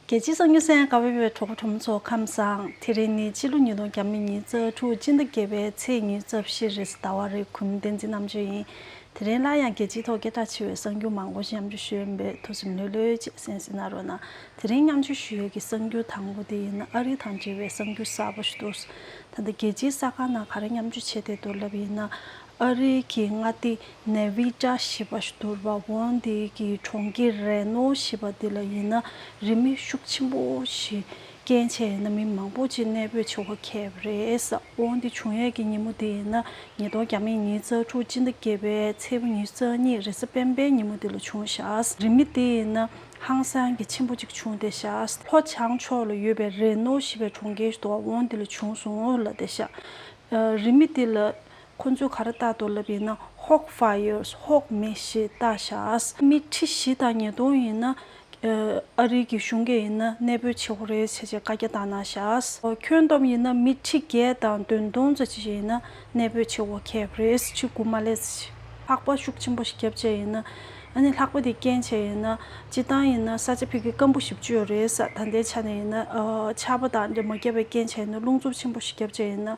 རྒྱལ་སྤྱིའི་གསང་ཉུལ་སེང་ག་བྷེ་བའི་གྲོགས་པོ་གྲོང་མི་ཚོ་ཁམས་བཟང་དེ་རིང་ནི་སྤྱི་ལོ་ཉིས་སྟོང་གྱ་མི་གཉིས་རྩ་དྲུག་སྤྱི་ཟླ་བརྒྱད་པའི་ཚེས་ཉིན་རྩ་བཞི་རེས་ཟླ་བ་རེ་གུམ་བསྟན་འཛིན་རྣམ་དཔྱོད་ཡིན་དེ་རིང་སླར་ཡང་རྒྱལ་སྤྱིའི་ཐོག་སྐད་གྲགས་ཆེ་བའི་གསང་རྒྱུད་མང་པོ་ཞིག་མཉམ་འཇུག་ཞུས་ཡོད་འབེད་ཐུགས་སེམས་ལྷོད་ལྷོད་ཅེས་སེམས་སེ་ན་རོ་ན་དེ་རིང་མཉམ་འཇུག་ཞུས་ཡོད་ཀྱི་གསང་རྒྱུད་དང་པོ་དེ་ཡིན་ན་ཨ་རི་དང་འབྲེལ་བའི་གསང་རྒྱུད་གསར་པོ་ཞིག་འདུག་ད་ལྟ་རྒྱལ་སྤྱིའི་གསར་ཁང་ནང་ག་རེ་མཉམ་འཇུག་བྱས་དེ་མདོར་ལབ་ཡིན་ན་ཨ་རི་གི་མངའ་སྡེ་ནེ་བྷི་ཏྲ་ཞེས་པ་ཞདུར་བྷ་བྷོན་དེ་གི་གྲོང་ཁྱེར་རེ་ནོ་ཞེས་པ་དེ་ལ་ཡིན་ན་རི་མི་ཤུགས་ཆེན་པོ་ཞིག་རྐྱེན་བྱས་ཡིན་ན་མི་མང་པོ་ཅིག་གནས་སྤོས་བྱེད་དགོས་ཁེབས་རེད་བོན་དེ་བྱུང་ཡས་ཀྱི་ཉིན་མོ་དེ་ཡིན་ན་ཉིས་སྟོང་གྱ་མེད་ཉིན་རྩ་དྲུག་སྤྱི་ཟླ་བརྒྱད་པའི་ཚེས་བུ་ཉིན་རྩ་གཉིས་རེས་གཟའ་སྤེན་པའི་ཉིན་མོ་དེ་ལ་བྱུང་ཤདེ་རི་མི་དེ་ཡིན་ན་ཧང་སང་གི་ཆེན་པོ་ཅིག་བྱུང་སྟེ་ཤདེ་ལྷོ་བྱང་ཕྱོགས་ལ་ཡོད་པའི་རེ་ནོ་ཞེས་པའི་གྲོང་ཁྱེར་ཞདུ་བྷ་བྷོན་དེ་ལ་བྱུང་སོང་ལ་དེ་ཤདེ་རི་མི་དེ་ལ། ཁོ་ཚོས་ག་རེ་བལྟ་འདུག་ལབ་ཡིན་ན་ཧཱོག Fires ཧཱོག་མེ་ཞེས་བལྟ་ཤགས། མི་ཁྲི་བཞི་དང་ཉིས་སྟོང་ཡིན་ན། ཨ་རིའི་གི་གཞུང་འགས་ཡིན་ན་གནས་སྤོས་བྱེད་ཧོ་རེད་བྱས་བྱས་བཀའ་རྒྱ་བཏང་གནང་ཤགས། ཁྱོད་སྟོབས་ཡིན་ན་མི་ཁྲི་བརྒྱད་དང་བདུན་སྟོང་ཙ་ཅི་བྱས་ཡིན་ན་གནས་སྤོས་བྱེད་ཧོ་ཁེབས་རེད་ཕྱི་སྒུག་མ་ལས། ལྷག་པ་ཤུགས་ཆེན་པོ་ཞིག་བརྒྱབ་བྱས་ཡིན་ན། ཨ་ནི་ལྷག་པ་དེ་རྐྱེན་བྱས་ཡིན་ན། སྤྱི་བཏང་ཡིན་ན་ས་ཆ་ཕིག་གི་སྐམ་པོ་ཞིབ་བཅོས་རེད་ས་ད་ལྟའི་ཆ་ནས་ཡིན་ན། ཆར་པ་དང་འདྲེ་མོ་བརྒྱབ་པའི་རྐྱེན་བྱས་ཡིན་ན་རླུང་འཚུབ་ཆེན་པོ་ཞིག་བརྒྱབ་བྱས་ཡིན་ན།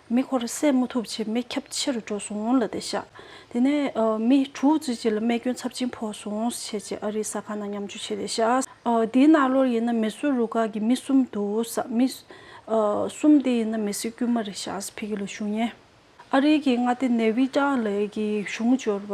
མེ་འཁོར་བསད་མ་ཐུབ་ཕྱིར་མེ་ཁྱབ་ཆེ་རུ་འགྲོ་སོང་ལ་དེ་བཞག་དེ་ནས་མི་དྲུག་བརྩི་བྱེད་ལ་རྨས་སྐྱོན་ཚབས་ཆེན་ཕོག་སོང་བྱས་རྗེས་ཨ་རིའི་ཟ་ཁང་ནང་མཉམ་འཇུ་བྱས་དེ་བཞག་དེའི་ནང་ལོར་ཡིན་ན་མེ་གསོད་རུ་ཁག་གི་མི་གསུམ་འདུག་ས་མི་གསུམ་དེ་ཡིན་ན་མེ་སྲེག་དཀྱུས་མ་རེ་བཞག་ཕི་གི་ལོ་གཞུང་ཉེ་ཨ་རིའི་གི་མངའ་སྡེ་ནེ་བྷི་ཏཱ་ལའི་གི་གཞུང་འབྱོར་བ་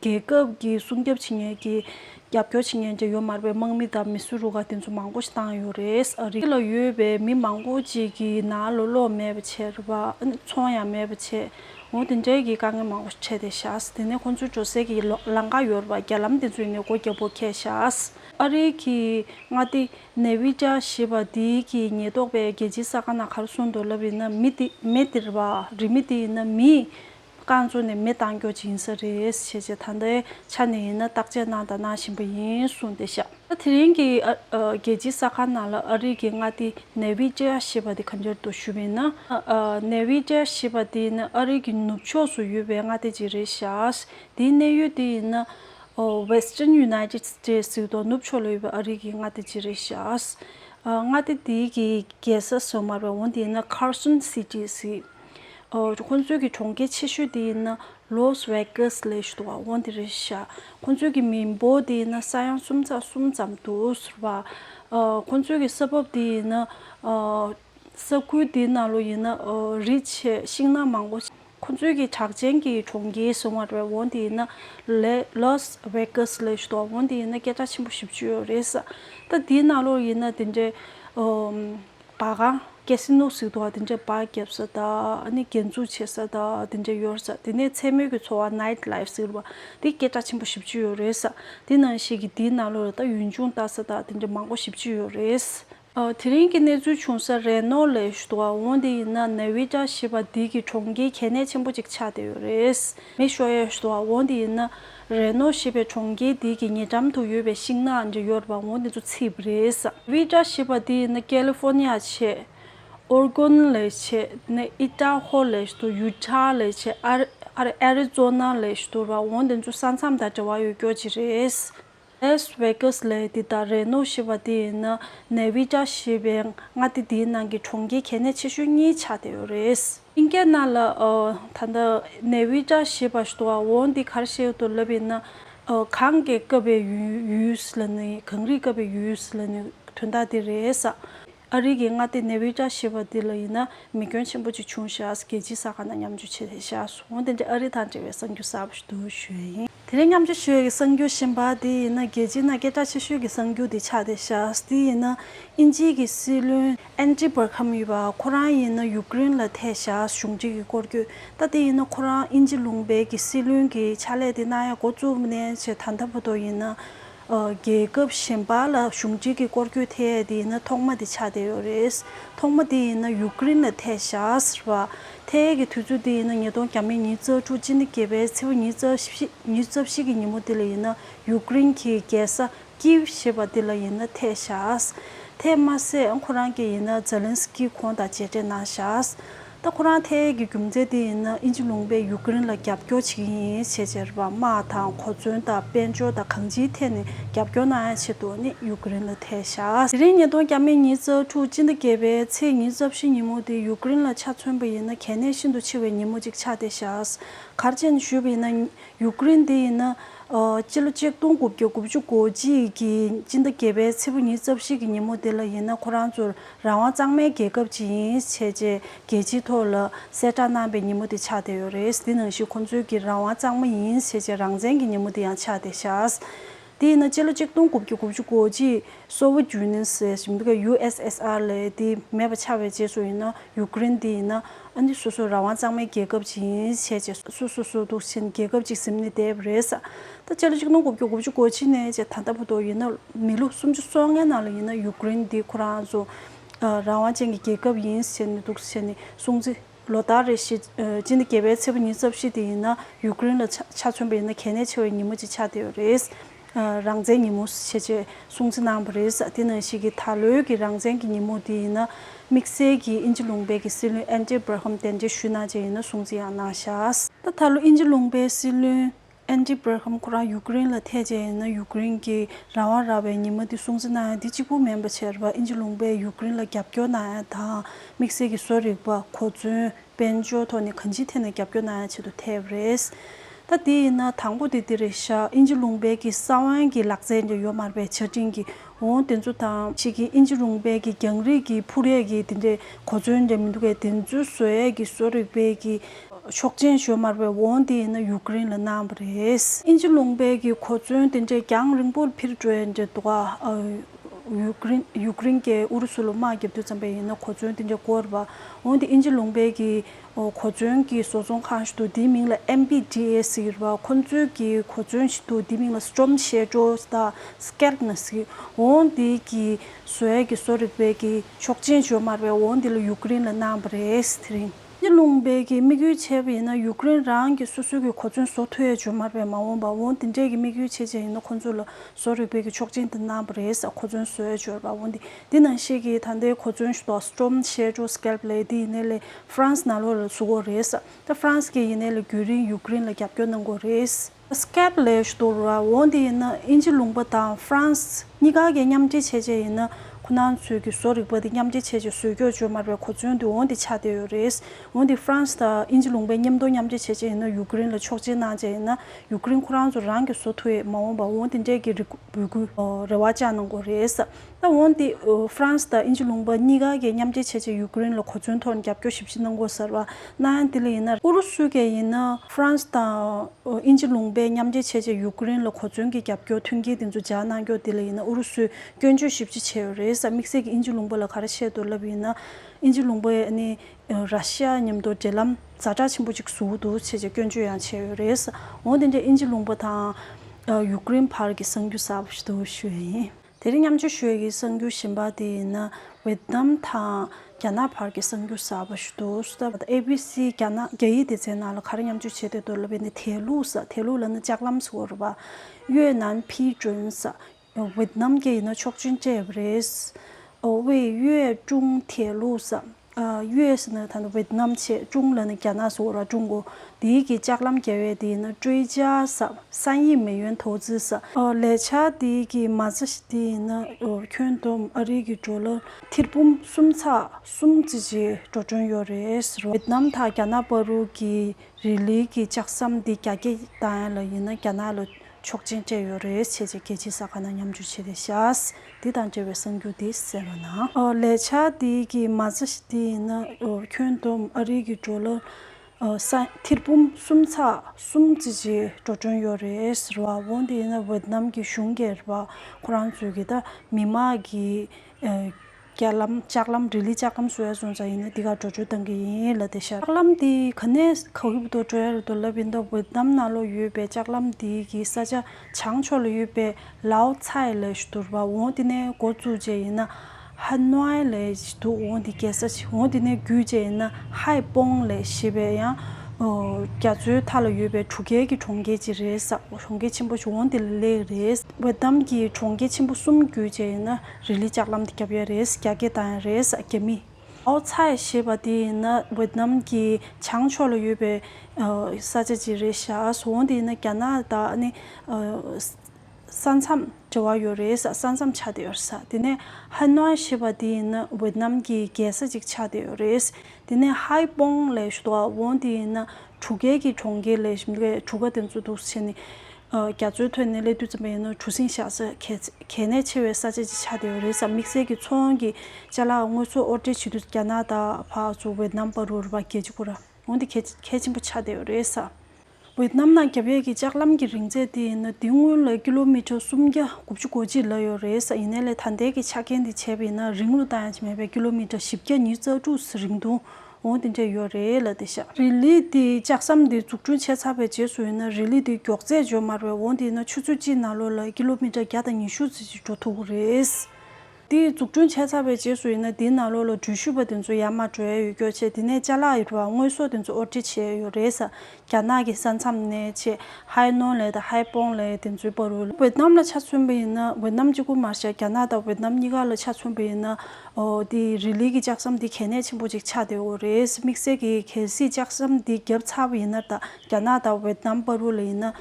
རྒྱལ་ཁབ་ཀྱི་སྲུང་སྐྱོབ་བྱེད་མཁན་གྱི་རྒྱབ་སྐྱོར་བྱེད་མཁན་གྱི་ཡོ་མར་པའི་དམག་མི་དང་མི་སུ་རུ་ག་དེ་ཚོ་མང་པོ་ཞིག་བཏང་ཡོད་རེད། རི་ལ་ཡོད་པའི་མི་མང་པོ་ཅིག་གི་ནང་ལོ་ལོག་མེད་པ་བྱས། ཚོང་ཡང་མེད་པ་བྱས། འོ་དེ་འདྲའི་གི་དཀའ་ངལ་མང་པོ་ཞིག་འཕྲད་དེ་བཞག་དེ་ནས་ཁོང་ཚོའི་འགྲོ་སའི་གི་ལང་ཀ་ཡོད་པ་རྒྱ་ལམ་དེ་ཚོའི་ནས་སྒོ་རྒྱ་བོ་ཁེལ་བཞག། ཨ་རི་གི་མངའ་སྡེ་ནེ་བྷི་ཇཱ་ཞེས་པ་དེ་གི་ཉེན་རྟོག་པས་རྒྱལ་སྤྱིའི་ས་ཁང་ནང་ག་རེ་སོང་འདུག་ལབ་ཡིན་ན་མི་དེ་མི་དེ་རེད་པ་རེད་མི་དེ་ཡིན་ན་མི་རྐང་བཙུགས་ནས་མི་བཏང་རྒྱུ་སྦྱིན་ས་རེད་ཞེས་བྱས་ད་ལྟའི་ཆ་ནས་ཡིན་ན་བརྟག་དཔྱད་གནང་དང་གནང་བཞིན་པ་ཡིན་གསུངས་ཏེ་བཤད། དེ་རིང་གི་རྒྱལ་སྤྱིའི་གསར་ཁང་ནང་ལ་ཨ་རིག་གི་མངའ་སྡེ་ནེ་བྷི་ཇ་ཞེས་པ་དེ་ག་འདྲེར་འདུག་ཞུས་པས་ན། ནེ་བྷི་ཇ་ཞེས་པ་དེ་ནི་ཨ་རིག་གི་ནུབ་ཕྱོགས་སུ་ཡོད་པའི་མངའ་སྡེ་ཅིག་རེད་ཤག་དེའི་གནས་ཡུལ་དེ་ཡིན་ན། Western United States ཟེར་དོགས་ནུབ་ཕྱོགས་ལ་ཡོད་པའི་ཨ་རིག་གི་མངའ་སྡེ་ཅིག་རེད་ཤག་མངའ་སྡེ་དེའི་གི་རྒྱལ་ས་སོ་མ་རེད་འོན་ཏེ་ཡིན་ན Carson City ཟེར། ཁོ་ཚོའི་གི་གྲོང་ཁྱེར་ཆེ་ཤོས་དེ་ཡིན་ན Los Vegas ལས་ཤུ་དོག་ཝང་དེ་རེད་ཤ། ཁོ་ཚོའི་གི་མི་འབོ་དེ་ཡིན་ན་ས་ཡང་སུམ་ཚག་གསུམ་ཙམ་འདུག་ཟུར་བ། ཁོ་ཚོའི་གི་ས་བབ་དེ་ཡིན་ན། ས་ཁུལ་དེ་ན་ལོ་ཡིན་ན་རི་ཆེ་ཤིང་ནག་མང་བོ། ཁོ་ཚོའི་གི་གྲགས་ཅན་གི་གྲོང་ཁྱེར་ཟུར་བ་རེད་ཝང་དེ་ཡིན་ན Los Vegas ལས་ཤུ་དོག་ཝང་དེ་ཡིན་ན་སྐད་གྲགས་ཆེན་པོ་བཞི་བཅུ་ཡོད་རེད་ས། ད་དེ་ན་ལོ་ཡིན་ན་དེ་འདྲའི། བ་གང་སྐྱེ་སྲིན་ནུ་ཟིག་དུའང་དེ་འདྲའི་བག་རྒྱབ་ས་དང་ནི་རྒྱན་འཛུགས་བྱེད་ས་དང་དེ་འདྲའི་ཡོད་ས་དེ་ནས་མཚན་མོའི་གི་འཚོ་བ Night Life ཟེར་བ་དེ་སྐད་གྲགས་ཆེན་པོ་བཞི་བཅུ་ཡོད་རེད་ས་དེ་ནང་ཞིག་གི་དེའི་ནང་ལོ་རེ་ད་ཡུན་ཅུང་བལྟ་ས་དང་དེ་འདྲའི་མང་པོ་བཞི་བཅུ་ཡོད་རེད། དེ་རིང་གི་གནས་ཚུལ་བྱུང་ས་རེ་ནོ་ལེཞ་དུའང་འོང་དེ་ཡིན་ན Navita ཞེས་པ་འདི་གི་གྲོང་ཁྱེར་གལ་གནད་ཆེན་པོ་ཅིག་ཆགས་དེ་ཡོད་རེད། མེ་ཤོ་ཡེཞ་དུའང་འོང་དེ་ཡིན་ན་རེད་ནོ་ཞེས་པའི་གྲོང་ཁྱེར་དེ་གི་ཉེ་འགྲམ་དུ་ཡོད་པའི་ཤིང་ནགས་འདྲེ་ཡོར་བ་ངོ་དེ་ཚོ་ཚིག་པ་རེད། བྷི་ཏྲ་ཞེས་པ་དེ་ནི་ཀེ་ལི་ཧྥོ་ནི་ཡ་ཆེ། Oregon། ལས་བྱེད་ནི་ཨི་ཏ་ཧོ་ལས་བསྡུར་ཡུ་ཏྲ་ལས་བྱེད་ཨ་རི་ཛོ་ན་ལས་བསྡུར་བ་ངོ་དེ་ཚོ་ས་མཚམས་དང་འབྲེལ་བ་ཡོད་སྐྱོར་གྱི་རེད། ལེས་བྷེ་ཀཱས་ལས་འདི་ལྟར་རེད་ནོ་ཞེས་པ་དེ་ཡིན་ན་ནེ་བྷི་ཀྲ་ཞེས་པའི་མངའ་སྡེ་དེའི་ནང་གི་གྲོང་ཁྱེར་གལ་གནད་ཆེ་ཤོས་གཉིས་ཆགས་བསྡད་ཡོད་རེད། དབྱིན་སྐད་ནང་ལ་ད་ལྟ་ནེ་བྷི་ཀྲ་ཞེས་པ་ཞིག་འདུག་ཨ་འོ་འདི་གར་བཤད་ཡོད་དུ་ལབ་ཡིན་ན་གངས་ཀྱི་བཀབ་པའི་ཡུལ་ལ་ནི་གངས་རིས་བཀབ་པའི་ཡུལ་ལ་ནི་དོན་དག་དེ་རེད། ཨ་རིག་གི་མངའ་སྡེ་ནེ་བྷི་རཱ་ཞེས་པ་འདི་ལ་ཡིན་ན་མི་སྐྱོན་ཆེན་པོ་ཅིག་བྱུང་བཞག་ཨ་སི་རྒྱལ་སྤྱིའི་ས་ཁང་ནང་མཉམ་འཇུག་བྱེད་བསྡད་བཞག་སོང་དེ་འདྲའི་ཨ་རི་དང་འབྲེལ་བའི་གསང་རྒྱུ་གསར་པ་ཞིག་འདུག་ཞུས་ཡིན། དེ་རིང་མཉམ་འཇུག་བྱེད་ཡོད་ཀྱི་གསང་རྒྱུ་གཞན་པ་དེ་ཡིན་ན་རྒྱལ་སྤྱིའི་ནང་སྐད་གྲགས་ཆེ་ཤོས་ཀྱི་གསང་རྒྱུ་དེ་ཆགས་བསྡད་བཞག་དེ་ཡིན་ན་ཨིན་ཇིའི་གི་སྲིད་བློན་ཨན་ཏྲི་བར་ཁམ་ཡོད་པ་ཁོ་རང་ཡིན་ན་ཡུག་ཀེ་རིན་ལ་ཐད་བཞག་གཞུང་འབྲེལ་གྱི་སྐོར་སྐྱོད་ལྟ་དེ་ཡིན་ན་ཁོ་རང་ཨིན་ཇི་ལུང་པའི་གི་སྲིད་བློན་གྱི་ཕྱག་ལས་དེ་གནང་ཡ་འགོ་བཙུགས་ནས་བྱས་ད་མཐའ་བུ་ཐོག་ཡིན་ན། རྒྱལ་ཁབ་གཞན་པ་ལ་གཞུང་འབྲེལ་གྱི་སྐོར་སྐྱོད་ཐེ་ཡས་དེ་ཡིན་ན་ཐོག་མ་དེ་ཆགས་བསྡད་ཡོད་རེད། ཐོག་མ་དེ་ཡིན་ན་ཡུག་ཀེ་རིན་ལ་ཐེ་ཞགས་རེད་པ། ཐེ་ཡས་ཀྱི་དུས་ཚོད་དེ་ཡིན་ན་ཉིས་སྟོང་གྱ་མེད་ཉིས་བརྩ་དྲུག་སྤྱི་ཟླ་བརྒྱད་པའི་ཚེས་པ་ཉིས་བརྩ་བཞི་གི་ཉིན་མོ་དེ་ལ་ཡིན་ན་ཡུག་ཀེ་རིན་གྱི་རྒྱལ་ས Kyiv ཞེས་པ་དེ་ལ་ཡིན་ན་ཐེ་ཞགས། དེ་མ་ཟད་ཁོ་རང་གི་ཡིན་ན Zelenskyy ཁོང་དང་མཇལ་འཕྲད་གནང་ཞགས། ད་ཁོ་རང་ཐའེ་ཡེ་གི་རྒྱུ་མཚན་དེ་ཡིན་ན་དབྱིན་ཇི་ལུང་པས་ཡུག་ཀེ་རིན་ལ་རྒྱབ་སྐྱོར་བྱེད་ཀྱི་ཡིན་ཞེས་ཅེར་པ་མ་དང་གོ་མཚོན་དང་དཔལ་འབྱོར་དང་གང་ཅིའི་ཐད་ནས་རྒྱབ་སྐྱོར་གནང་ཡ་ཆེད་དུ་ནི་ཡུག་ཀེ་རིན་ལ་ཐའེ་ཤ། དེ་རིང་ཉིས་སྟོང་གྱ་མེད་ཉིན་གསར་འཁྲུག་སྤྱི་ཟླ་བརྒྱད་པའི་ཚེས་ཉིན་རྩ་བཞི་ཉིན་མོ་དེ་ཡུག་ཀེ་རིན་ལ་ཆ་མཚོན་པ་ཡིན་ན་གལ་གནད་ཤིན་ཏུ་ཆེ་བའི་ཉིན་མོ་ཅིག་ཆགས་ཏེ་ཤ། གར་ཅན་ནས་ཞུས་པ་ཡིན་ན་ཡུག་ཀེ་རིན་དེ་ཡིན་ན། སྤྱི་ལོ་གཅིག་སྟོང་དགུ་བརྒྱ་དགུ་བཅུ་གོ་གཅིག་གི་སྤྱི་ཟླ་བརྒྱད་པའི་ཚེས་པོ་ཉིན་རྩ་བཞི་གི་ཉིན་མོ་དེ་ལ་ཡིན་ན་ཁོ་རང་ཚོར་རང་དབང་གཙང་མའི་རྒྱལ་ཁབ་ཅིག་ཡིན་ཆེད་རྗེས་རྒྱལ་སྤྱིའི་ཐོག་ལ་གསལ་བསྒྲགས་གནང་པའི་ཉིན་མོ་དེ་ཆགས་བསྡད་ཡོད་རེད། དེ་ནང་བཞིན་ཁོ་ཚོའི་གི་རང་དབང་གཙང་མ་ཡིན་ཆེད་ཀྱི་རང་བཙན་གྱི་ཉིན་མོ་དེ་ཡང་ཆགས་བསྡད་ཤག། དེ་ཡིན་ན་སྤྱི་ལོ་གཅིག་སྟོང་དགུ་བརྒྱ་དགུ་བཅུ་གོ་གཅིག་གསོ་བོ་རྒྱུན་ནི་སའི་ཞིང་དུ USSR ལས་དེ་མེད་པ་ཆགས་པའི་རྗེས་སུ་ཡིན་ན་ཡུ་ཀེ་རེན་དེ་ཡིན་ན་ནི་སོ་སོ་རང་དབང་གཙང་མའི་རྒྱལ་ཁབ་ཅིག་ཡིན་ཆེད་ཀྱི་སོ་སོ་སོ་སོ་སྡུག་ཆེན་རྒྱལ་ཁབ་ཅིག་ཟིམ་ནས་བསྡད་པ་རེད། ད་ཆ་ལོ་གཅིག་ནང་དགུ་བཅུ་དགུ་བཅུ་གོ་ཕྱིན་ནས་ད་ལྟ་བུ་དོ་ཡིན་ན་མི་ལོ་སུམ་ཅུ་སོ་ལྔའི་ནང་ལ་ཡིན་ན་ཡུཀ་རེན་འདི་ཁོ་རང་ཚོ་རང་དབང་ཅན་གྱི་རྒྱལ་ཁབ་ཡིན་ཟེར་ནས་འདུག་ཟེར་ནས་གསུངས་ཚེ་ལོ་ལྟར་རེ་བཞི་ནི་རྒྱལ་བའི་ཚེས་པ་ཉིན་རྩ་བཞི་དེ་ཡིན་ན་ཡུཀ་རེན་ལ་ཆ་མཚོན་པ་ཡིན་ན་གལ་གནད་ཆེ་བའི་ཉིན་མོ་ཅིག་ཆགས་བསྡད་ཡོད་རེད། རང་བཙན་ཉིན་མོ་ཞེས་བཅས་གསུངས་ཚེ་གནང་བ་རེད་དེ་ནང་བཞིན་གྱི་ད་ལོའི་གྱི་རང་བཙན་གྱི་ཉིན་མོ་དེ་ཡིན་ན་དམིགས་བསལ་གྱིས་ཨིན་ཇི་ལུང་པའི་གྱི་སྲིད་བློན་ཨན་ཏེ་བྷར་ཧམ་གདན་འདྲེན་ཞུས་གནང་བཅས་ཡིན་ན་གསུངས་ཚེ་ཡང་གནང་ཤག། ད་ད་ལོ་ཨིན་ཇི་ལུང་པའི་སྲིད་བློན་ཨན་ཏྲི་སྦེར་ཧམ་ཁོ་རང་ཡུ་ཀེ་རེན་ལ་ཐེ་བྱས་ཡིན་ན་ཡུ་ཀེ་རེན་གྱིས་རང་དབང་རག་པའི་ཉི་མ་དེ་སྲུང་བརྩི་གནང་ཡང་དེ་གཅིག་པུ་མིན་པ་ཕྱིར་ཝེ་ཨིན་ཇི་ལུང་པས་ཡུ་ཀེ་རེན་ལ་རྒྱབ་སྐྱོར་གནང་ཡང་དང་དམིགས་བསལ་གྱི་བཟོ་རིག་པ་གོ་མཚོན་དཔལ་འབྱོར་ཐོག་ནས་གང་ཅིའི་ཐད་ནས་རྒྱབ་སྐྱོར་གནང་ཡང་ཆེད་དུ་ཐེབས་རེད། ད་དེ་ཡིན་ན་དང་པོ་དེ་དེ་རེད་ཤག་ཨིན་ཇི་ལུང་པས་ཀྱི་ས་བོན་གྱི་ལག་རྩལ་འདི་ཡོ་མར་པའི་ཆ་འཕྲིན་གྱི་ཨོ་དེ་ཚོ་དང། ཞིག་གིས་ཨིན་ཇི་རུང་དཔལ་གྱི་རྒྱང་རིང་གི་ཕུ་རས་ཀྱི་དེ་འདྲའི་གོ་མཚོན་རེད་མི་འདུག་གས་དེ་ཚོའི་བཟོ་ཡས་ཀྱི་བཟོ་རིག་དཔལ་གྱི་ཤོག་ཆེན་བཞོན་མར་བའི་ཨོ་དེ་ཡིན་ན་ཡུག་ཀེ་རིན་ལ་གནང་བ་རེད། ཨིན་ཇི་རུང་དཔལ་གྱི་གོ་མཚོན་དེ་འདྲའི་རྒྱང་རིང་པོར་འཕིར་འགྲོ་ཡས་འདྲ་འདུག་ག། ཡུག་ཀེ་རིན་གས་ཨུ་རུ་སུ་ལ་དམག་རྒྱབ་དུས་ཙམ་པས་ཡིན་ན་གོ་མཚོན་དེ་འདྲའི་བཀོལ་བ། ཨོ་དེ་ཨིན་ཇི་རུང་དཔལ་གྱི་གོ་མཚོན་གྱི་བཟོ་ཚོང་ཁང་ཞིག་ཏུ་དེའི་མིང་ལ MBDA ཟེར་བ་ཁོ་ཚོའི་གི་གོ་མཚོན་ཞིག་ཏུ་དེའི་མིང་ལ Strom Shadows དང Skergna ཟེར་འོང་དེ་གི་བཟོས་གི་བཟོ་རིག་པའི་གི་ཆོག་མཆན་བརྗོད་མར་བས་འོང་དེ་ལ་ཡུཀ་རེན་ལ་གནང་བ་རེད་དེ་རིང་ནས་ལུང་པའི་གི་དམིགས་ཡུལ་བྱས་པ་ཡིན་ན་ཡུཀ་རེན་རང་གི་སོ་སོའི་གི་གོ་མཚོན་བཟོ་ཐུ་ཡས་བརྗོད་མར་བས་མ་འོང་བ་འོང་དེ་འདྲའི་གི་དམིགས་ཡུལ་བྱས་ཅན་ཡིན་ན་ཁོ་ཚོ་ལ་བཟོ་རིག་པའི་གི་ཆོག་མཆན་དེ་གནང་བ་རེད་ས་གོ་མཚོན་བཟོས་བརྗོད་པ་འོང་དེ་དེ་ནང་བཤད་གི་ད་ལྟའི་གོ་མཚོན་ཞིག་ཏུ Strom Shadows Skergla ཡེ་དེ་ཡིན་ནས་ལས། ཧྥ་རན་སི་ནང་ལོགས་ལ་བཟོ་འགོ་རེད། ད་ཧྥ་རན་སི་གིས་ཡིན་ནའི་ལ་རྒྱུན་རིང་ཡུག་རིན་ལ་རྒྱབ་སྐྱོར་གནང་འགོ་རེད། Escape Lesh Dur བ་འོང་དེ་ཡིན་ན་ཨིན་ཇི་ལུང་པ་དང་ཧྥ་རན་སི་གཉིས་ཀ་གི་མཉམ་འབྲེལ་བྱས་རྗེས་ཡིན་ན་ཁོ་ནང་ཚོས་ཀྱི་བཟོ་རིག་པ་དེ་མཉམ་འབྲེལ་བྱས་རྗེས་བཟོས་ཀྱོག་བྱོས་མར་བའི་གོ་མཚོན་དུ་འོང་དེ་ཆགས་བསྡད་ཡོད་རེད། འོང་དེ་ཧྥ་རན་སི་དང་ཨིན་ཇི་ལུང་པའི་མཉམ་འདོར་མཉམ་འབྲེལ་བྱས་རྗེས་ཡིན་ན་ཡུག་རིན་ལ་ཆོག་མཆན་གནང་རྗེས་ཡིན་ན་ཡུག་རིན་ཁོ་རང་ཚོ་རང་གིས་བཟོ་ཐུ་ཡས་མ་འོང་པ་འོང་དེ་འབྲེལ་གྱི་རིག་འབུལ་གུ་རེ་བ་བཅག་གནང་འགོ་རེད། ད་འོངས་ཏེ་ཨོ་ཧྥ་རན་སི་དང་ཨིན་ཇི་ལུང་པ་གཉིས་ཀ་གིས་མཉམ་འབྲེལ་བྱས་རྗེས་ཡུ་ཀེ་རེན་ལ་གོ་མཚོན་ཐོག་ནས་རྒྱབ་སྐྱོར་ཞིབ་བཤེར་གནང་དགོས་ཟེར་བ་ནམ་ཡང་དེ་ལས་ཡིན་ན། ཨུ་རུ་སུས་ཀྱང་ཡིན་ན་ཨོ་ཧྥ་རན་སི་དང་ཨིན་ཇི་ལུང་པས་མཉམ་འབྲེལ་བྱས་རྗེས་ཡུ་ཀེ་རེན་ལ་གོ་མཚོན་གྱི་རྒྱབ་སྐྱོར་མཐུན་རྐྱེན་དེ་ཚོ་འཇགས་གནང་སྐྱོར་དེ་ལས་ཡིན་ན་ཨུ་རུ་སུས་སྐྱོན་བརྗོད་ཞིབ་ཅིག་བྱས་ཡོད་རེད་ས་དམིགས་བསལ་གྱིས་ཨིན་ཇི་ལུང་པ་ལ་ག་རེ་བཤད་འདོད་ལབ་ཡིན་ན། ཨིན་ཇི་ལུང་པས་ནི་ར་ཤི་ཡ་ཉམས་རྡོ་འབྲེལ་ལམ་རྫ་བྲག་ཆེན་པོ་གཅིག་བཟོའུ་འདུག་བྱས་རྗེས་སྐྱོན་བརྗོད་ཡང་བྱས་ཡོད་རེད་ས་འོང་དེ་འདྲས་ཨིན་ཇི་ལུང་པ་དང་ཡུ་ཀེ་རེན་བར་གྱི་གསང་རྒྱུ་ཟབ་ཞུ་དུ་ཞུ་ཡོད་ཡིན། དེ་རིང་མཉམ་ཆུ་ཤོད་ཀྱི་གསར་འགྱུར་བྱིན་པ་དེ་ཡིན་ན་ཝེ་ཏི་ནམ་དང་རྒྱ་ནག་བར་གྱི་གསར་འགྱུར་གསར་པ་ཞིག་འདུག་སུ་ལྟར་ཨེ་བྷི་སི་རྒྱ་ནག་རྒྱ་ཡིག་སྡེ་ཚན་ནང་ལ་ག་རེ་མཉམ་སྤྱོད་བྱེད་འདོད་འདུག་ལབ་པའི་ནི་དེ་ལུགས་ས་དེ་ལུགས་ལ་ནི་ལྕགས་ལམ་སོགས་རུ་བ། གཡོད་ནན་ཕི་ཅོན་ས། ཝེ་ཏི་ནམ་རྒྱ་ཡིན་ན་ཆོག་མཆན་སྤྲད་ཡོད་པ་རེད། དབུས་གཡོད་ཀྲུང་དེ་ལུགས་ས། US ནི་ད་ནི་ཝེ་ཏི་ནམ་ཆེས་ཀྲུང་ལ་ནི་རྒྱ་ནག་སུ་ཝོར་བ་ཀྲུང་གོ་དེའི་གི་ལྕགས་ལམ་རྒྱལ་བའི་དེའི་ནི་ཀྲོའི་ཅཱ་ས་སན་ཡིག་མེ་ཡོན་ཐོའུ་ཙི་ས་ལས་ཆ་དེའི་གི་མ་ཙི་ཤི་དེའི་ནི་ཁྱོན་དུ་ཨ་རིའི་གི་གྲོ་ལོ་ཐིར་བུམ་གསུམ་ཚ་གསུམ་ཙི་ཅི་འགྲོ་གྲོན་ཡོད་རེད་ཝེ་ཏི་ནམ་དང་རྒྱ་ནག་པ་རུ་གི་རི་ལིའི་གི་ལྕགས་ཟམ་དེ་རྒྱ་སྐྱེད་དང་ཡན་ལ་ཡིན་ན་རྒྱ་ནག་ལ་ཆོག་མཆན་སྤྲད་ཡོད་རེད་བྱས་རྗེས་གལ་ཆེ་ས་ག་ན་མཉམ་འཇུག་བྱས་ཏེ་ཤཱས་འདི་དང་འབྲེལ་བའི་གསར་འགྱུར་འདི་གསལ་བ་ན། ལས་འཆར་འདི་གི་མ་རྩ་འདི་ཡིན་ན་ཁྱོན་བསྡོམས་ཨ་རིག་གི་འགྲོ་ལ་ས་ཐིར་འབུམ་གསུམ་ཚ་གསུམ་བརྩི་བྱའི་འགྲོ་གྲོན་ཡོད་རེད་ཟེར་བ་འོ་འདི་ཡིན་ན་ཝེ་ཏི་ནམ་གྱི་གཞུང་སྒེར་པ་ཁོ་རང་ཚོས་གི་ད་མི་དམངས་ཀྱི་ལྕགས་ལམ་ལྕགས་ལམ་རི་ལི་ལྕགས་ལམ་སུའེ་སུན་ཙང་ཡིན་ནས་འདི་གར་འགྲོ་བསྐྱོད་གཏང་གི་ཡིན་ལ་དེ་ཤར། ལྕགས་ལམ་དེ་ག་ནས་ག་ཝི་བུ་ཏོ་ཀྲོའེ་རུ་དུ་ལ་བྷིན་ཏོ་བྷི་ཏམ་ན་ལོ་ཡོད་པའི་ལྕགས་ལམ་དེ་གི་ས་ཆ་བྱང་ཕྱོགས་ལ་ཡོད་པའི་ལའོ་ཚའེ་ལའེ་ཞུ་དུར་བའོ་དེ་ནས་འགོ་བཙུགས་རྗེས་ཡིན་ན་ཧ་ནུའེ་ལའེ་ཞུ་དུའོ་དེ་གའི་ས་ཆའོ་དེ་ནས་བརྒྱུད་རྗེས་ཡིན་ན་ཧའེ་པོང་ལའེ་ཞེས་པའི་ཡང་རྒྱ་མཚོའི་མཐའ་ལ་ཡོད་པའི་གྲུ་ཁའི་གི་གྲོང་ཁྱེར་གྱི་རེས་གྲོང་ཁྱེར་ཆེན་པོ་ཞུའོ་དེ་ལ་སླེབས་རེས་བྷི་ཏམ་གྱི་གྲོང་ཁྱེར་ཆེན་པོ་གསུམ་བརྒྱུད་རྗེས་ཡིན་ན་རི་ལི་ལྕགས་ལམ་དུ་བརྒྱབ་ཡ་རེད་རྒྱ་སྐད་དང་ཡ་རེད་རྒྱ་མི། ཨའོ་ཚའེ་ཞེས་པ་དེ་ཡིན་ན་ཝེད་ནམ་གྱི་བྱང་ཕྱོགས་ལ་ཡོད་པའི་ས་ཆ་ཅིག་རེད་ཤག་ཟོ་འོང་དེ་ཡིན་ན་རྒྱ་ནག་དང་ནི་ས་མཚམས་འབྲེལ་བ་ཡོད་རེད་ས་མཚམས་ཆགས་བསྡད་ཡོད་ས་དེ་ནས་ཧའེ་ནོའེ་ཞེས་པ་དེ་ཡིན་ན་ཝེད་ནམ་གྱི་རྒྱལ་ས་ཅིག་ཆགས་བསྡད་ཡོད་རེད་དེ་ནས་ཧའེ་པོང་ལས་ཞོ་འོང་དེ་ཡིན་ན་གྲུ་ཁལ་གྱི་གྲོང་ཁྱེར་ལས་གྲུ་ཁ་དེ་ཚོ་འདུག་ས་ཆ་ནི་རྒྱ་མཚོའི་ཐོད་ནས་ཀླད་དུ་འཛིན་པ་ཡིན་ནོ་གྲུ་གཟིངས་བཞག་ས་གལ་གནད་ཆེ་བའི་ས་ཆ་ཅིག་ཆགས་བསྡད་ཡོད་རེད་བསམ་དམིགས་བསལ་གྱི་མཚོ་སྔོན་གྱི་ལྕགས་ལ་དངོས་གཙོ་ཨོ་རྒྱལ་བྱེད་དུས་རྒྱ་ནག་དང་བྷག་ཙོ་ཝེ་ཏནམ་པ་རུར་བ་བརྒྱད་ཅུ་གོ་ར་འོང་དེ་གལ་ཆེན་པོ་ཆགས་བསྡད་ཡོད་རེད་བསམ། ཝེ་ཏནམ་ནང་རྒྱབ་གཡས་ཀྱི་ལྕགས་ལམ་གྱི་རིང་ཚད་དེ་ཡིན་ན་དེ་སྔོན་ལ་ཀི་ལོ་མི་ཀྲ་སུམ་བརྒྱ་དགུ་བཅུ་གོ་གཅིག་ལ་ཡོད་རེད་བསམ་ཡིན་ནའི་ལས་ཐ་འདས་ཀྱི་ཆ་རྐྱེན་དེ་བྱས་པ་ཡིན་ན་རིང་ལུགས་དང་ཡང་ཆ་མེད་པའི་ཀི་ལོ་མི་ཀྲ་བཞི་བརྒྱ་ཉིས་བརྩ་དྲུག་སྲིད་རིང་ཐུང། འོང་དེ་འདྲས་ཡོད་རེད་ལ་དེ་ཤ། རི་ལི་དེ་ལྕགས་ཟམ་དེ་འཛུགས་སྐྲུན་བྱས་ཚར་བའི་རྗེས་སུ་ཡིན་ན་རི་ལི་དེ་མགྱོགས་ཚད་འཇོག་མར་བས་འོང་དེ་ཡིན་ན་ཆུ་ཚོད་གཅིག་ན་ལོ་ལ་ཀི་ལོ་མི་ཏྲ་བརྒྱ་དང་ཉི་ཤུ་ཙི་ཅིག་འགྲོ་ཐུབ་རེད། དེ་འཛུགས་སྐྲུན་བྱས་ཚར་བའི་རྗེས་སུ་ཡིན་ན་དེ་ན་ལོ་ལ་འགྲུལ་བཞུད་པ་དེ་ཚོ་ཡར་མར་འགྲོ་ཡ་ཡོད་སྐྱོ་ཆེ་དེ་ནས་ལྕགས་ལག་ཡོད་པའང་དངོས་ཟོག་དེ་ཚོ་དབོར་འདྲེ་བྱས་ཡོད་རེད་ས་རྒྱ་ནག་གི་ས་མཚམས་ནས་ཆེས་ཧའེ་ནོན་ལེ་དང་ཧའེ་པོང་ལེ་དེ་ཚོའི་བར་རུ། བེད་ནམ་ལ་ཆ་མཚོན་པ་ཡིན་ན་བེད་ནམ་གྱི་དབུ་མར་ཤར་རྒྱ་ནག་དང་བེད་ནམ་གཉིས་ཀ་ལ་ཆ་མཚོན་པ་ཡིན་ན། འདི་རི་ལི་གི་ལྕགས་ཟམ་འདི་གལ་གནད་ཆེན་པོ་ཅིག་ཆགས་བསྡད་འོ་རེད་དམིགས་བསལ་གྱི་གལ་སྲིད་ལྕགས་ཟམ་འདི་བརྒྱབ་ཚར་བ་ཡིན་ན་ད་རྒྱ་ནག་དང་བེད་ནམ་བར་རུ་ལ་ཡིན་ན།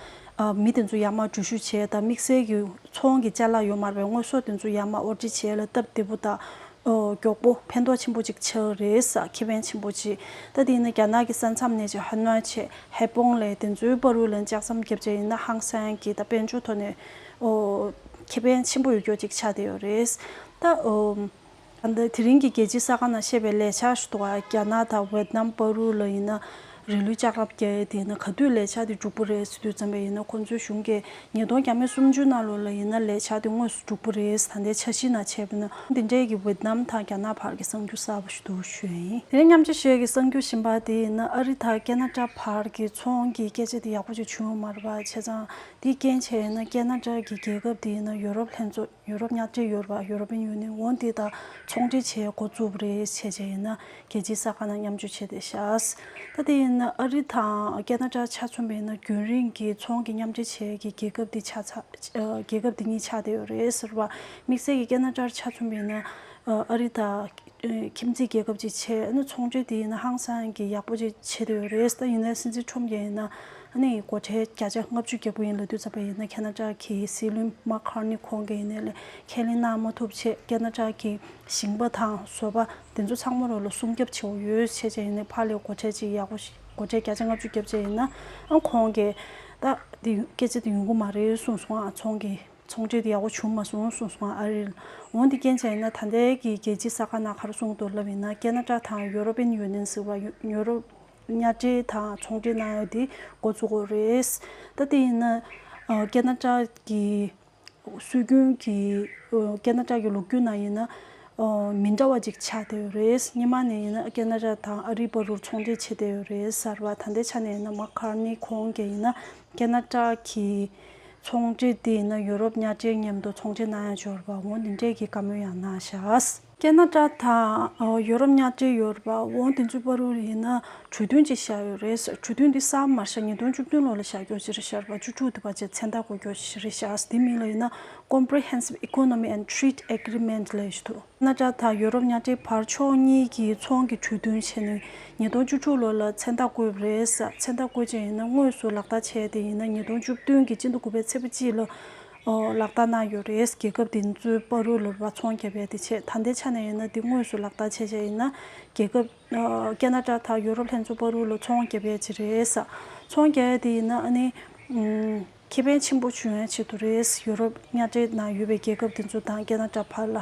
མི་དེ་ཚོ་ཡར་མར་འགྲུལ་བཞུད་བྱས་དང་དམིགས་བསལ་གྱི་ཚོང་གི་བཅའ་ལག་ཡོད་མར་བའི་དངོས་ཟོག་དེ་ཚོ་ཡར་མར་དབོར་འདྲི་བྱས་ལ་སྟབས་བདེ་པོ་དང་མགྱོགས་པོ་ཕན་ཐོགས་ཆེན་པོ་ཅིག་ཆགས་རེས་ཁེ་ཕན་ཆེན་པོ་ཅི། ད་དེ་ནི་རྒྱ་ནག་གི་ས་མཚམས་ནས་ཅི་ཧ་ནོའི་ཆེད་ཧའེ་པོང་ལའི་དེ་ཚོའི་དཔའ་རུལ་ལ་འཇགས་མཚམས་བརྒྱབ་བྱ་ཡིན་ན་ཧང་སན་གྱི་ད་དཔལ་འབྱོར་ཐོག་ནས་ཁེ་ཕན་ཆེན་པོ་ཡོད་མགྱོགས་ཅིག་ཆགས་བསྡད་ཡོད་རེས། ད་དེ་རིང་གི་རྒྱལ་སྤྱིའི་ས་ཁང་ནང་བཤད་པའི་ལས་འཆར་ཞུ་དོགས་རྒྱ་ནག་དང་ཝེ་ཏི་ནམ་དཔའ་རུལ་ལ་ཡིན་ན། རེ་ལུས་ལྕགས་རབ་རྒྱ་ཡས་དེས་ན་ག་དུས་ལས་བྱ་དེ་འགྲུག་པོ་རེད་ཟེར་དུས་བརྩམས་པ་ཡིན་ན་ཁོང་ཚོའི་གཞུང་གི་ཉིས་སྟོང་གྱ་མེད་སུམ་ཅུ་ན་ལོ་ལ་ཡིན་ན་ལས་བྱ་དེ་དངོས་སུ་འགྲུག་པོ་རེད་ད་ལྟའི་ཆ་གཞི་ན་བྱས་པ་ན་འདི་འདྲས་ཀྱི་ཝིཏ་ནམ་དང་རྒྱ་ནག་བར་གྱི་གསང་རྒྱུ་གསར་པ་ཞིག་འདུག་ཞུས། དེ་མཉམ་ཆ་ཤས་ཀྱི་གསང་རྒྱུ་བཞིན་པ་དེ་ཡིན་ན་ཨ་རི་དང་ཀེ་ན་ཀྲ་བར་གྱི་ཚོང་གི་སྐད་ཆ་དེ་ཡག་པོ་ཅིག་བྱུང་ཡོད་མ་རེད་པ་བྱས་ཙང་དེའི་རྐྱེན་བྱས་ཡིན་ན་ཀེ་ན་ཀྲ་གི་རྒྱལ་ཁབ་དེ་ཡིན་ན་ཡོ་རོབ་ལྷན་ཚོགས། ཡུ་རོབ་ཉག་ཅིག་ཡོད་པ European Union འོང་དེ་དང་ཚོང་འབྲེལ་བྱེད་འགོ་བཙུགས་པ་རེད་བྱས་བྱས་ཡིན་ན་རྒྱལ་སྤྱིའི་ས་ཁང་ནང་མཉམ་འཇུག་བྱས་ཏེ་ཤཱས་ད་དེ་ཡིན་ན་ཨ་རི་དང་ཀེ་ན་ཏྲ་ཆ་མཚུངས་པ་ཡིན་ན་རྒྱུན་རིང་གི་ཚོང་གི་མཉམ་འབྲེལ་བྱེད་ཀྱི་རྒྱལ་ཁབ་དེ་ཆགས་ཚ་རྒྱལ་ཁབ་དེ་གཉིས་ཆགས་བསྡད་ཡོད་རེད་ཟེར་བ་དམིགས་བསལ་གྱི་ཀེ་ན་ཏྲར་ཆ་མཚུངས་པ་ཡིན་ན་ཨ་རི་དང་ཁྱིམ་མཚེས་རྒྱལ་ཁབ་ཅིག་བྱས་ན་ཚོང་འབྲེལ་དེ་ཡིན་ན་ཧང་སང་གི་ཡག་པོ་ཅིག་བྱས་བསྡད་ཡོད་རེད་ད་ཡིན་ན་སྲིད་འཛིན་ཁྲོམ་རྒྱལ་ཡིན་ན། ཨ་ནེ་ཡི་སྒོ་ཁྲལ་བརྒྱ་ཆ་ལྔ་བཅུ་གྱ་དགུ་ཡིན་ལ་བསྡུ་ཚར་པ་ཡིན་ན་ཁ་ན་ཀྲག་གི་སྲིད་བློན་མ་ཁར་ནི་ཁོང་གི་ཡིན་ལས་ཁས་ལེན་གནང་མ་ཐུབ་ཆེད་ཀ་ན་ཀྲག་གི་ཞིང་པ་དང་བཟོ་པ་འདི་ཚོ་ཚང་མ་རོགས་ལ་སྲུང་སྐྱབས་བྱེད་འོ་ཡོད་ཆེད་ཆེད་ཡིན་ནའི་ཕ་ལས་སྒོ་ཁྲལ་ཅིག་ཡག་པོ་ཞིག་སྒོ་ཁྲལ་བརྒྱ་ཆ་ལྔ་བཅུ་བརྒྱབ་ཆེད་ཡིན་ན་ཁོང་གི་ད་འདི་སྐད་ཆ་འདི་ཡོང་གི་མ་རེད་གསུངས་སོང་ཨ་ཚོང་གི་ཚོང་ཁྲལ་འདི་ཡག་པོ་བྱུང་མ་སོང་གསུངས་སོང་ཨ་རེད་ལ་འོ་འདི་རྐྱེན་ཆ་ཡིན་ན་ད་ལྟའི་གི་རྒྱལ་སྤྱི་ས་ཁ་ན་ཁར་སྲུང་གཏོར་ལབ་ཡིན་ན་ཀ་ན་ཀྲག་དང་ཡོ་རོ་པེན་ཡོ་ནེན་ཟེར་བ་ཡོ་རོ་གཉའ་ཁྲི་དང་ཚོང་འབྲེལ་གནང་ཡོད་དེ་འགོ་བཙུགས་འོག་རེད། ད་དེ་ཡིན་ན་ཀ་ན་ཀྲ་གི་སྲོལ་རྒྱུན་གྱི་ཀ་ན་ཀྲ་གི་ལུགས་རྒྱུན་ནང་ཡིན་ན་མི་འདྲ་བ་ཅིག་ཆགས་བསྡད་ཡོད་རེད། སྙེ་མ་ནས་ཡིན་ན་ཀ་ན་ཀྲ་དང་ཨ་རི་བ་རུར་ཚོང་འབྲེལ་བྱེད་བསྡད་ཡོད་རེད་གསར་བ་ད་ལྟའི་ཆ་ནས་ཡིན་ན་མ་ཁར་ནི་ཁོང་གིས་ཡིན་ན་ཀ་ན་ཀྲ་གི་ཚོང་འབྲེལ་དེ་ཡིན་ན་ཡུ་རོབ་གཉའ་ཁྲིའི་མཉམ་དུ་ཚོང་འབྲེལ་གནང་ཡང་འབྱོར་བ་ངོ་འདི་འདྲས་ཀྱི་བཀའ་མོལ་ཡང་གནང་བཞག། ཀ་ན་ཀྲ་དང་ཡོ་རོབ་མཉམ་འབྲེལ་ཡོ་རོ་པ་བོང་དེ་ཚོའི་པར་རུ་རུ་ཡིན་ན་གྲོས་མཐུན་ཅིག་བཞག་ཡོད་རེད་གྲོས་མཐུན་འདི་ས་མར་ཤ་ཉིས་སྟོང་བཅུ་བདུན་ལོ་ལ་བཞག་གྱོ་ཅི་རེད་ཤར་པ་བཅུ་དྲུག་དུ་བ་ཅའི་ཚན་རྟགས་གོ་གྱོ་ཅི་རེད་ཤགས་དེ་མིང་ལ་ཡིན་ན Comprehensive Economy and Treat Agreement ལ་ཡོད་དོ། ཀ་ན་ཀྲ་དང་ཡོ་རོབ་མཉམ་འབྲེལ་བར་ཕྱོགས་གཉིས་ཀྱིས་ཚོང་གི་གྲོས་མཐུན་བྱས་ནས་ཉིས་སྟོང་བཅུ་དྲུག་ལོ་ལ་ཚན་རྟགས་བཀོད་པ་རེད་ཚན་རྟགས་བཀོད་ཅིག་ཡིན་ན་དངོས་སུ་ལག་བསྟར་བྱས་དེ་ཡིན་ན་ཉིས་སྟོང་བཅུ་བདུན་གྱི་སྤྱི་ཟླ་དགུ་པའི་ཚེས་པ་གཅིག་ལ་ལག་བསྟར་གནང་ཡོད་རེད། རྒྱལ་ཁབ་དེ་ཚོའི་དཔའ་རུ་ལུར་བ་ཚོང་རྒྱབ་པའི་དེ་ཆེད་ད་ལྟའི་ཆ་ནས་ཡིན་ན་དེ་དངོས་སུ་ལག་བསྟར་བྱས་བྱས་ཡིན་ན། རྒྱལ་ཁབ། ཀ་ན་ཀྲ་དང་ཡོ་རོབ་ལྷན་ཚོ་དཔའ་རུ་ལུ་ཚོང་རྒྱབ་པའི་ཆེད་རེད། ཚོང་རྒྱ་ཡ་དེ་ཡིན་ན་ཨ་ནི། ཁེ་ཕན་ཆེན་པོ་བྱུང་ཡའི་ཆེད་དུ་རེད། ཡོ་རོབ་གཉའ་ཁྲེལ་ནང་ཡོད་པའི་རྒྱལ་ཁབ་དེ་ཚོ་དང་ཀ་ན་ཀྲ་བར་ལ།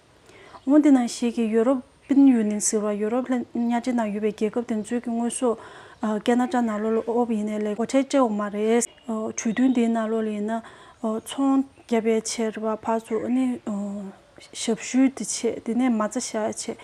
ལོ་འདི་ནང་ཞིག་གི་ཡོ་རོབ་པིན་ཡུ་ནིན་ཟེར་བ་ཡོ་རོབ་ལྷན་ཉག་ཅིག་ནང་ཡོད་པའི་རྒྱལ་ཁབ་དེ་ཚོའི་གི་དངོས་ཟོག་ཀེ་ན་ཀྲ་ནག་ལོ་ལོ་ཨོབ་ཡིན་ནས་ལས་སྒོ་ཁྲལ་བཅད་འོག་མ་རེད། གྲོས་མཐུན་དེའི་ནང་ལོ་ལོ་ཡིན་ན་ཚོང་རྒྱ་ཕལ་ཆེར་བ་ཕག་ཚོ་ཨ་ནི་ཞབས་ཞུའི་དེ་ཆེད་དེ་ནས་མ་རྩ་བཞག་ཆེད་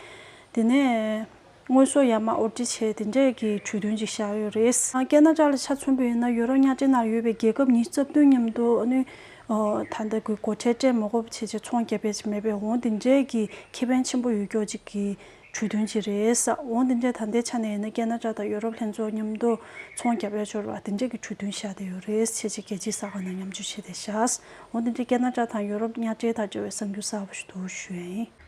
དེ་ནས། དངོས་ཟོག་ཡར་མར་དབོར་འདྲེན་བྱས་དེ་འབྲེལ་གྱི་གྲོས་མཐུན་ཅིག་བཞག་ཡོད་རེད། ཀན་ན་ར་ལ་ཆ་མཚོན་པོ་ཡིན་ན་ཡོ་རོབ་གཉའ་ཁྲི་ནར་ཡོད་པའི་རྒྱལ་ཁབ་གཉིས་རྩ་བསྟུན་མཉམ་དུ་ཨ་ནུ། ད་ལྟ་གི་སྒོ་ཁྲལ་སྤྲད་མི་དགོས་པ་བྱས་ཆེད་ཚོང་རྒྱ་བེད་ཅིག་མེད་པའི་འོང་དེ་འབྲེལ་གྱི་ཁེ་ཕན་ཆེན་པོ་ཡོད་ཀྱོག་ཅིག་གི་གྲོས་མཐུན་ཅིག་རེད། འོང་དེ་འབྲེལ་ད་ལྟའི་ཆ་ནས་ཡིན་ན་ཀན་ན་ར་དང་ཡོ་རོབ་ལྷན་ཚོགས་མཉམ་དུ་ཚོང་རྒྱ་བེད་སྤྱོར་བ་དེ་འབྲེལ་གྱི་གྲོས་མཐུན་བཞག་བསྡད་ཡོད་རེད་བྱས་ཆེད་རྒྱལ་སྤྱིའི་ས་ཁང་ནང་མཉམ་སྤྱོད་བྱས་ཏེ་བཞག། འོང་དེ་འབྲེལ་ཀན་ན་ར་དང་ཡོ་རོབ་གཉའ་ཁྲི་དང་འབྲེལ་བའི་གསར་འགྱུར་གསར་བ་ཞིག་ཏུ་ཞུ་ཡ་ཡིན།